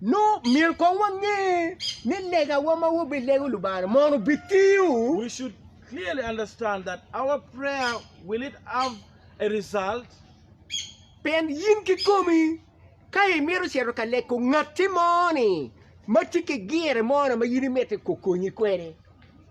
Nongo myero kong wange ni legawa ma wabilego Lubanga mono bitiyo. Pien in kikomi, ka imito cito ka leko ngatti mo-ni ma tye ki gire mo-ni ma in imito okonyi kwede,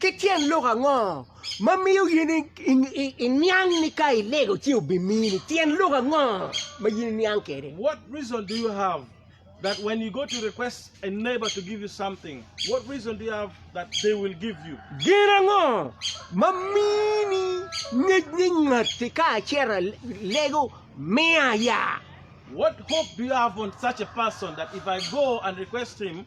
Ki tyen lok ango ma miyo in iniang ni ka ilego ci obimini? Tyen lok ango ma in iniang kwede? What reason do you have that when you go to request a neighbor to give you something, what reason do you have that they will give you? Gin ango ma mini ngec ni ngatti ka acito alego miya ya? What hope do you have on such a person that if I go and request him,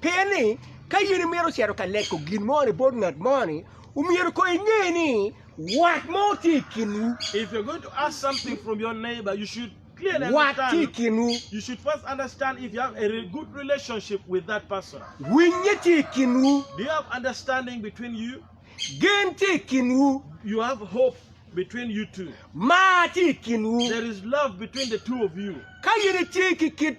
Pien ni, ka in imito cito ka leko gin moni bot ngat moni, omyero kong inge ni wat mo tye i kinwu. If you're going to ask something from your neighbor, you should clearly Wat tye i understand. kinwu, You should first understand if you have a re- good relationship with that person. winye tye i kinwu, Do you have understanding between you? gen tye i kinwu, You have hope between you two. mar tye i kinwu. There is love between the two of you. Ka in itye ki kit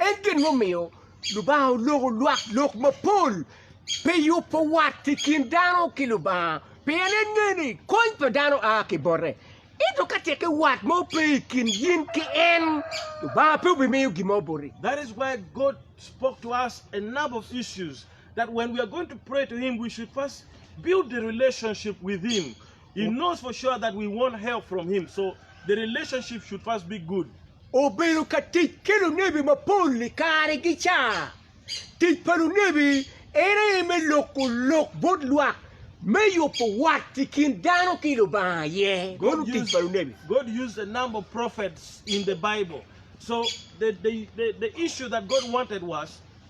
En gin mumiyo Lubanga oloko lwak lok mapol pi yubo wat i kin dano ki Lubanga, pien en ngeyo ni kony pa dano a ki bote. Ento ka teke wat mo pe i kin in ki en, Lubanga pe obimiyo gin mo boti. That is why God spoke to us a number of issues that when we are going to pray to Him, we should first build a relationship with Him. Obedo ka tic ki lunebi mapol i karegi ca. Tic pa lunebi en aye me loko lok bot lwak me yubo wat i kin dano ki Lubanga aye. Meno tic pa lunebi.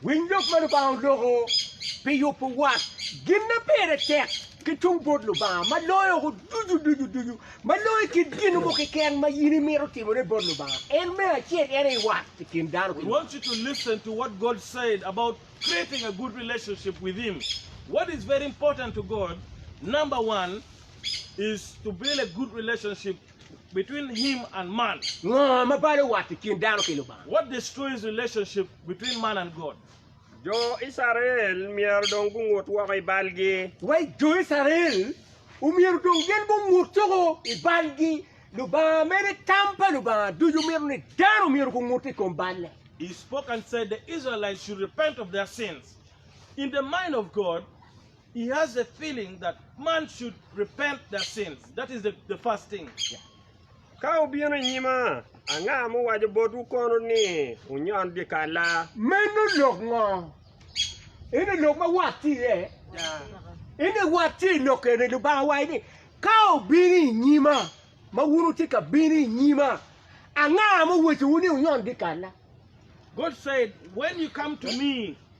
Winy lok ma Lubanga oloko pi yubo wat. Gin ma pire tek ki tung bot Lubanga ma loyo oko ducu ducu ducu, ma loyo kit gin mo keken ma in imito timone bot Lubanga, en me acel en aye wat i kin dano ki Lubanga. between him and man? Ngo ma balo wat i kin dano ki Lubanga? What destroys relationship between man and God? Jo Icrael myero dong gungut woko i balgi. Wai, Jo Icrael omyero dong gin gungut woko i balgi. Lubanga mene tam pa Lubanga ducu mito ni dano omyero gungut i kom balle. He spoke and said the Israelites should repent of their sins. In the mind of God, He has a feeling that man should repent their sins. That is the, the first thing. Ka wubino i nyima, anga muwaco botwu kono ni wunyon dyekalla? Meno lok ngo? Eno lok ma wat tye iye. Eno wat tye i lok eni, Lubanga owaco ni, Ka wubino i nyima, ma wun wutye ka bino i nyima, anga muwacowu ni wunyon dyekalla? God said, When you come to me,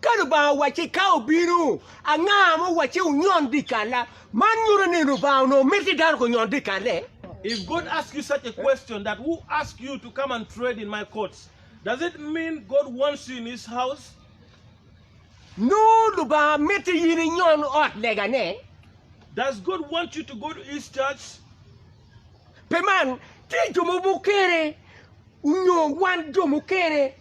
Ka Lubanga owacci, Ka obino, anga ma owacci onyon dyekalla? Man nyuto ni Lubanga onongo mito ni dano gunyon dyekalle. If God asks you such a question that who asked you to come and trade in my courts? Does it mean God wants you in his house? Nongo Lubanga mito in inyon ot legane. Does God want you to go to his church? Pi man, tye jo ma mukene onyo wan jo mukene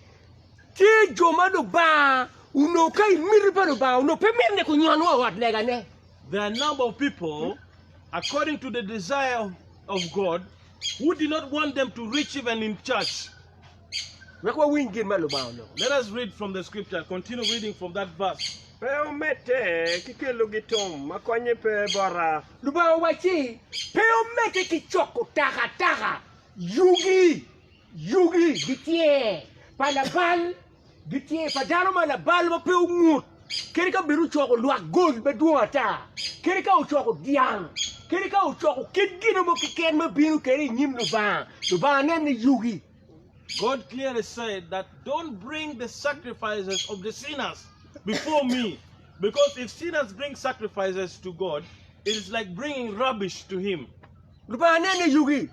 Tye jo ma Lubanga onongo ka i miti pa Lubanga onongo pe mitte ni kunyon wa i ot legane. There are a number of people, according to the desire of, of God, who did not want them to reach even in church. Wek wawiny gin ma Lubanga onongo. Let us read from the scripture, continue reading from that verse. Pe omedde ki kelo gitom ma konye pe bota. Lubanga owacci, Pe omedde ki coko takataka, yugi. Yugi gitye pa labal, gitye pa dano ma labal ma pe ongut, kadi ka bed ocoko lwak gol madwong ata, kadi ka ocoko dyang, kadi ka ocoko kit gin mo keken ma bino kwede i nyim Lubanga, Lubanga nene yugi. God clearly said that don't bring the sacrifices of the sinners before me because if sinners bring sacrifices to God, it is like bringing rubbish to Him. Lubanga nene yugi.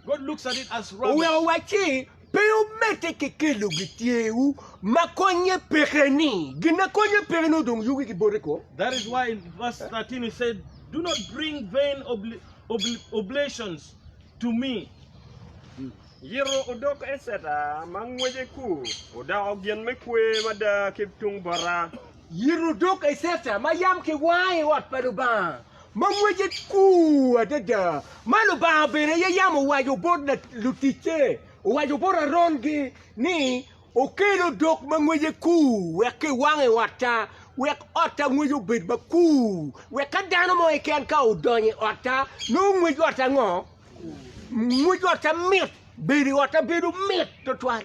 Oweko wacci pe omedde ki kelo gityewu ma konye peke-ni. Gin ma konye peke nongo dong yugi gibote ko. That is why in verse 13 he said, Do not bring vain oblations to me. Yito odok Eceta ma ngwece ku odoko gin me kwer mada ki tung bota. Yito odok Eceta ma yam kiwango i ot pa Lubanga. ma ngwece kur adada, ma Lubanga bene aye yam owaco bot luticce, owaco bot Aron-gi ni, Okel odok ma ngwece kur wek kiwang i otta, wek otta ngwece obed makur, wek ka dano mo keken ka odonyo i otta, nongo ngwec otta ngo? Ngwec otta mit, bedo i otta bedo mit tutwal.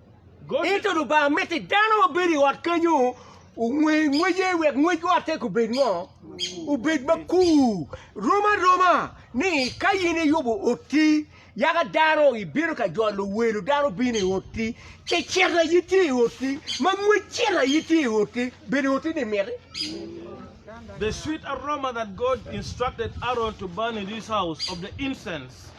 Ento Lubanga miti dano ma bedo i ot kenyo onge ngwece wek ngwec otte kubed ngo? Obed makur. Rom aroma ni ka in iyubo otti, yaka dano ibino ka jolo welo, dano bino i otti, ci cito aye tye i otti, ma ngwec cito aye tye i otti, bedo otti-ni miti? The sweet aroma that God instructed Aaron to burn in his house of the incense.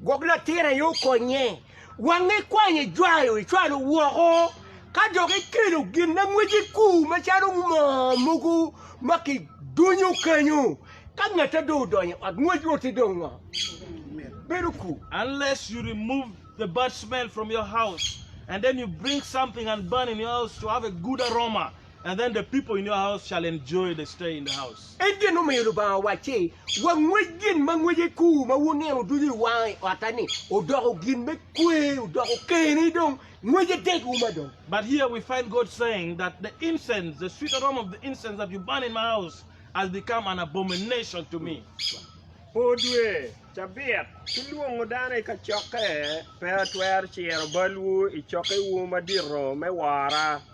Gwok latin aye okonye. Wang ikwanyo ijwayo icwalo woko, ka dok ikelo gin ma ngwec i kur macalo moo mogo ma kidunyo kenyo. Ka ngatte dong odonyo i ot ngwec woti dong ngo? Bedo kur. Unless you remove the bad smell from your house and then you bring something and burn in your house to have a good aroma. And then the people in your house shall enjoy the stay in the house. En gin omiyo Lubanga owacci, Wangwec gin ma ngwece kur ma wuneno ducu i wanga i otta-ni, odoko gin me kwer, odoko keni dong, ngwece tek uma dong. But here we find God saying that the incense, the sweet aroma of the incense that you burn in my house has become an abomination to me. Poo dwe, cabit, ki lwongo dano i kacokke pe atwero ciro balwu i cokkewu madito me wora.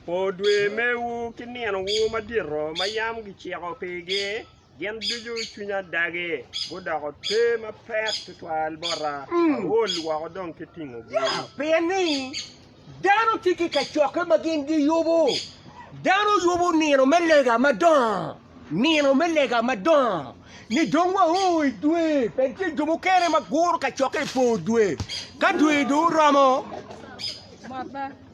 Po dwe mewu ki ninowu madito ma yam giciko pigi, gin ducu cwinya dagi, gudoko te mapek twatwal bota, aol woko dong ki tingogi. Pien ni dano tye ki kacokke ma gin giyubo, dano yubo nino me lega madongo, nino me lega madongo, ni dong wao i dwe, pien tye jo mukene ma guro kacokke i po dwe, ka dwe dong oromo.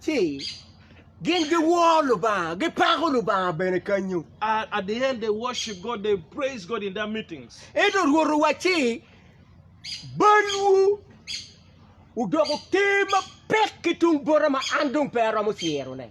ci gin giwor Lubanga, gipako Lubanga bene kanyu. At, at the end, they worship God, they praise God in that meetings. Ento Rwot owacci, Balwu odoko ter mapek ki tung bota ma an dong pe aromo cirone.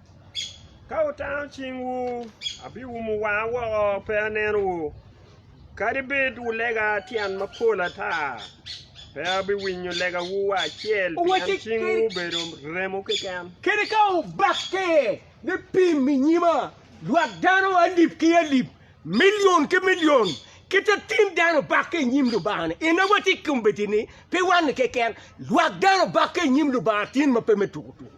Ka wutano cingwu, abiumo wanga woko pe anenowu, kadi bed wulega tyen mapol ata, pe abiwinyo legawu wa acel, pien cingwu obedo remo keken. Kadi ka wubakke me pim i nyima, lwak dano alip ki alip, milion ki milion, kit ma tim dano bakke i nyim Lubanga-ni, en aye watye kombeddi-ni, pe wan-ni keken, lwak dano bakke i nyim Lubanga tyen ma pe me tuku tuku.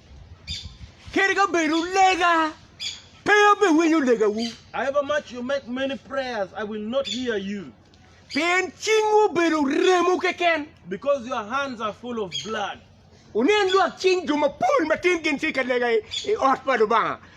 Kadi ka bed wulega, pe abiwinyo legawu. However much you make many prayers, I will not hear you. Pien cingwu obedo remo keken. Because your hands are full of blood. Wunen lwak cing jo mapol ma tin gin tye ka lega i ot pa Lubanga.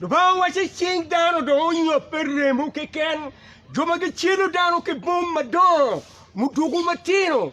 Lubanga waco cing dano dong onyobbe remo keken, jo ma gicelo dano ki bom madongo muduku matino.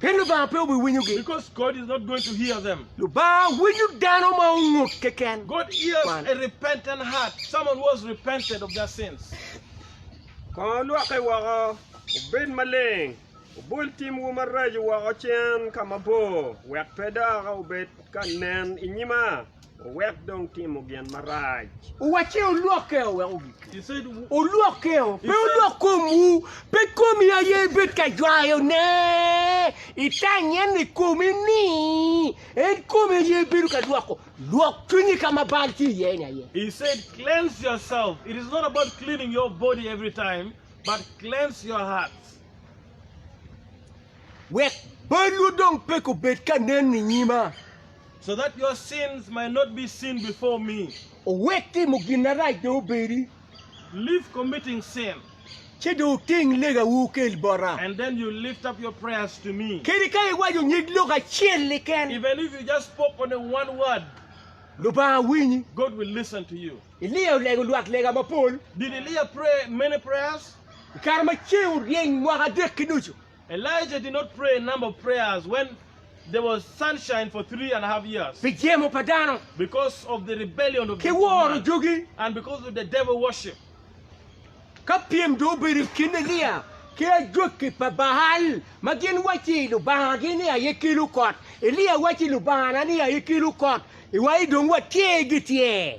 Pien Lubanga pe obiwinyogi. Because God is not going to hear them. Lubanga winyo dano ma ongut keken. God hears Kwan. a repentant heart, someone who has repented of their sins. Kong olwokke woko, wubed maleng, wubol timwu maraco woko cen ka mabor, wek pe dok wubed ka nen i nyima. Owek dong timo gin marac. Owacce olwok keo wek ogik. Olwok keo, pe olwok komwu. Pe komi aye ibed ka jwayo ne, itany en i komi ni en kome aye ibedo ka lwoko. Lwok cwinyi ka ma bal tye iye ni aye. He said cleanse yourself. It is not about cleaning your body every time, but cleanse your hearts. Wek balwu dong pe kobed ka nen i nyima. So that your sins might not be seen before me. Owek timo gin marac dong obedi. Leave committing sin. Ci dong wuting legawu wukel bota. And then you lift up your prayers to me. Kadi ka iwaco nyig lok acel keken. Even if you just spoke only one word. Lubanga winyi. God will listen to you. Elia olego lwak lega mapol. Did Elia pray many prayers? I kare ma ceng oryeny mwaka adek ki nucu. Elijah did not pray a number of prayers when there was sunshine for three and a half years. Pi jemo pa dano. Because of the rebellion of the two men. Ki woro jogi. And because of the devil worship. Ka pyem dong obedo i kin Elia ki ajwaki pa Baal, ma gin wacci lubangagi ni aye kelo kot, Elia wacci, Lubangana ni aye kelo kot, iwaci dong watye gityer.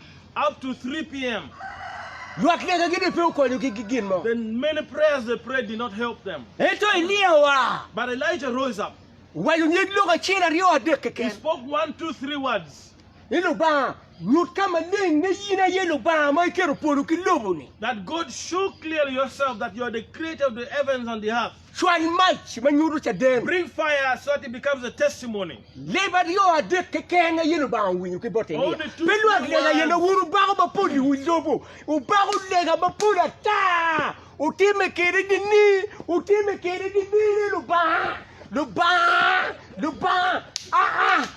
up to 3 pm. Lwak negagi dok pe okonyogi ki gin mo. Then many prayers they prayed did not help them. Ento Elia oa. But Elijah rose up. Owaco nying lok acel, aryo, adek keken. He spoke one, two, three words. Ni Lubanga, nyut ka maleng ni in aye Lubanga ma iketo polo ki lobo-ni. That God show clearly yourself that you are the creator of the heavens and the earth. Cwal mac ma nyuto caden. Bring fire so that it becomes a testimony. Leb aryo adek keken aye Lubanga owinyo ki bote niya, Only two Pe lwak good lega aye na words. wun wubako mapol i wi lobo, wubako lega mapol ata, wutimme kwede dini, wutimme kwede dini ni, Lubanga, Lubanga, Lubanga, aa!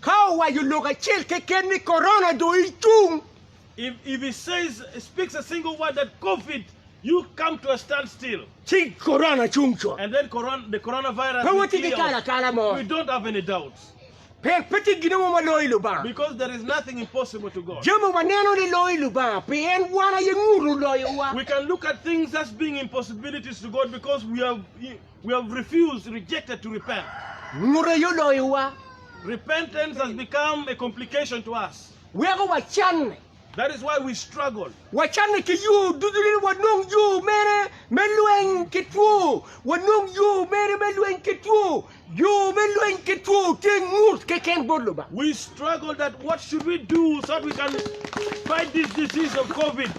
Ka owaco lok acel keken ni Corona dong icung. If if he says speaks a single word that covid you come to a stand still. Ci Corona cung cut. And then coron the Corona virus. Pe watye ki kala kala mo. We don't have any doubts. Pek pe tye gin mo ma loyo Lubanga. Because there is nothing impossible to God. Jami waneno ni loyo Lubanga pi en wan aye nguto loyowa. We can look at things as being impossibilities to God because we are. We have refused, rejected to repent. Ngute aye oloyo wa. Repentance has become a complication to us. Weko wacanne. That is why we struggle. Wacanne ki yo ducu ni wanong yo mere me lweny ki two. Wanong yo mere me lweny ki two. Yo me lweny ki two tye ngut keken bot Lubanga. We struggle that what should we do so that we can fight this disease of Covid.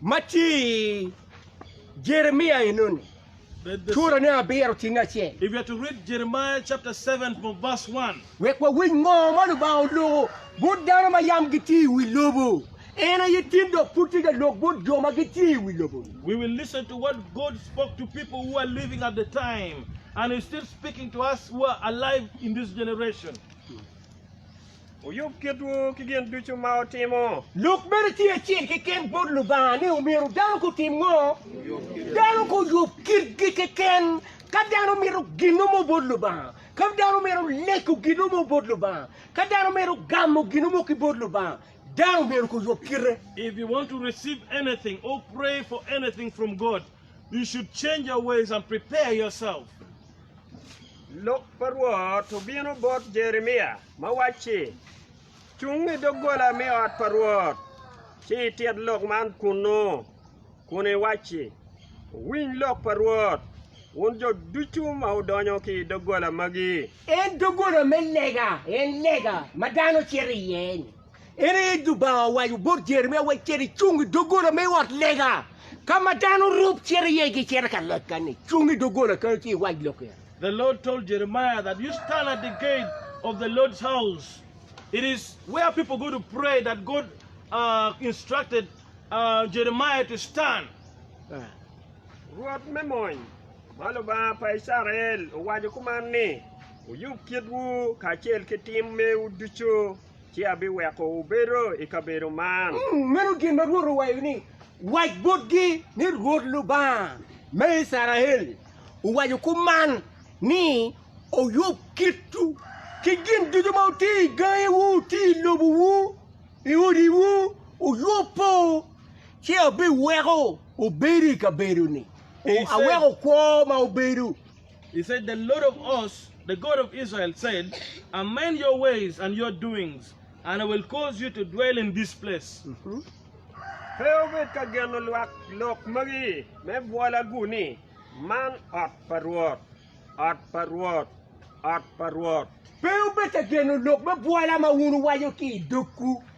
Ma ci Jeremia enoni, curo ne abiro tinge acel. If you are to read Jeremiah chapter 7 from verse 1, Wek wawinj ngo ma Lubanga oloko bot dano ma yam gitye i wi lobo. En aye tin dok pud tye ka lok bot jo ma gitye i wi lobo-ni. we will listen to what God spoke to people who are living at the time and is still speaking to us who are alive in this generation. Wuyub kitwu ki gin ducu ma wutimo. Lok mene tye acel keken bot Lubanga ni omyero dano gutim ngo? Dano guyub kitgi keken. Ka dano mito ginno mo bot Lubanga, ka dano mito lego ginno mo bot Lubanga, ka dano mito gamo ginno mo ki bot Lubanga, dano myero guyub kite. If you want to receive anything or pray for anything from God, you should change your ways and prepare yourself. Lok pa Rwot obino bot Jeremia ma wacci, Cung i doggola me ot pa Rwot, ci itit lok man kunnu, kun iwacci, 'Wuwiny lok pa Rwot, wun jo ducu ma wudonyo ki i doggola magi. En doggola me lega, en lega ma dano cito iye-ni, En aye Lubanga owaco bot Jeremia wai, Cit icung i doggola me ot lega, ka ma dano rop cito iye gicito ka legga-ni. Cung i doggola kenyo ci iwac lok en. The Lord told Jeremiah that you stand at the gate of the Lord's house. It is where people go to pray that God uh, instructed uh, Jeremiah to stand. Rwot me mony, ma Lubanga pa Icrael, owaco kuman ni, Wuyub kitwu kacel ki tim mewu ducu. ci abiweko wubedo i kabedo man. Meno gin ma Rwot owaco ni, Wac botgi ni, 'Rwot Lubanga me Icrael owaco kuman ni, Wuyub kitwu ki gin ducu ma wutye i gangiwu, wutye i lobowu, i odiwu, wuyubbu, ci abiweko wubedo i kabedo-ni, aweko kwo ma wubedo. He said, The Lord of hosts, the God of Israel, said, Amend your ways and your doings, and I will cause you to dwell in this place. Pe wubed ka geno lwak lok magi me bwolagu ni, 'Man ot pa Rwot, ot pa Rwot, ot pa Rwot. Pe wubed ka geno lok me bwola ma wun wuwaco ki i dogwu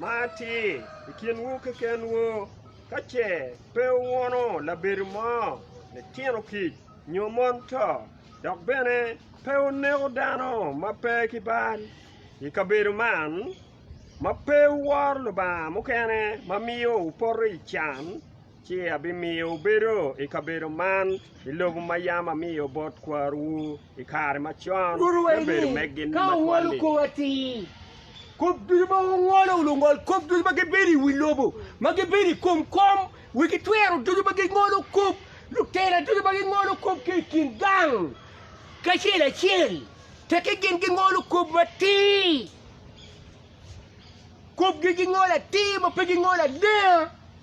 Ma atir i kinwu kekenwu, ka ce pe wuwono labedo mo, litino kic, nyo mon to, dok bene pe wuneko dano ma pe ki bal i kabedo man, ma pe wuworo Lubanga mukene ma miyo wupoto i can, Ci abimiyo wubedo i kabedo man i lobo ma yam amiyo bot kwaruwu i kare macon, me bedo megi ni matwal-li. Kop ducu ma wungolo, lungol kop ducu ma gibedo i wi lobo, ma gibedo i kom kom, wi gitwero ducu ma gingolo kop, lutela ducu ma gingolo kop ki i kin gang ki acel acel, tekki gin gingolo kop matir, kopgi gingolo atir ma pe gingolo alenga.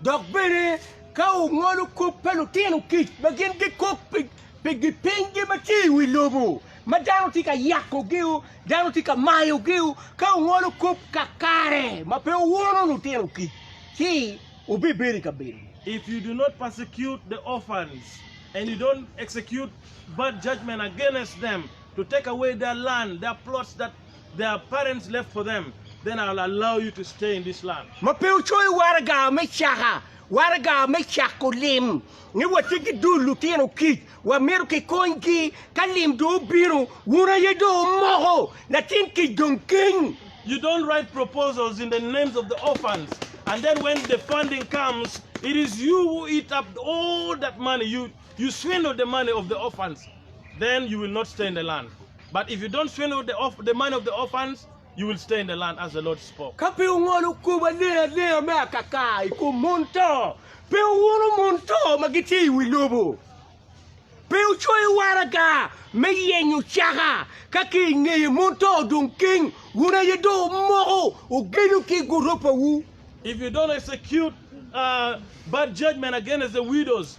Dok bene, ka wungolo kop pa lutino kic ma gin gikok pi gipinygi ma tye i wi lobo, ma dano tye ka yakogi, dano tye ka mayogi, ka wungolo kop kakare ma pe wuwono lutino kic, ci wubibedo i kabedo-ni. If you do not persecute the orphans, and you don't execute bad judgment against them, to take away their land, their plots that Ma pe wucoyo waraga me caka, waraga me cako lim, ni watye ki dul lutino kic, wamito kikonygi. Ka lim dong obino, wun aye dong wumoko latin kic dong keny. You swindled the money of the orphans, then you will not stay in the land, but if you don't swindle the orph the money of the orphans, you will stay in the land, as the Lord spoke. Ka pe wungolo kop alengalenga me akaka i kom mon to, pe wuwuno mon to ma gitye i wi lobo. Pe wucoyo waraga me yenyo caka, ka ki i ngeye mon to odong keng, wun aye dong wumoko ogenyo ki i goropawu. If you don't execute uh, bad judgment against the widows,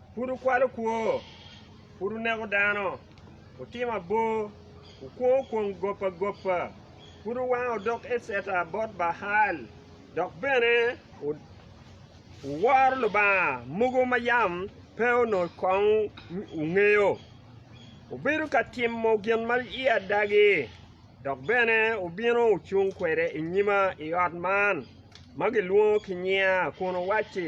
Pud wukwalo kwo, pud wuneko dano, wutimo abor, wukwongo kwong gop agopa, pud wuwango odok Eceta bot Baal, dok bene wuworo lubanga mogo ma yam pe onongo kong wungeyo. Wubedo ka timo gin ma i adagi, dok bene wubino wucung kwede i nyima i ot man ma gilwongo ki nyinga kun wuwacci,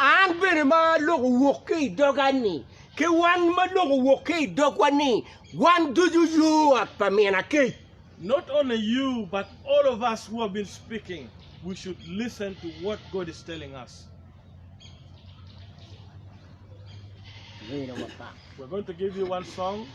An bene ma lok owok ki i doga ni, ki wan ma lok owok ki i dogwa ni, wan ducu yo ot pa min akec. Not only you but all of us who have been speaking we should listen to what God is telling us. We're going to give you one song.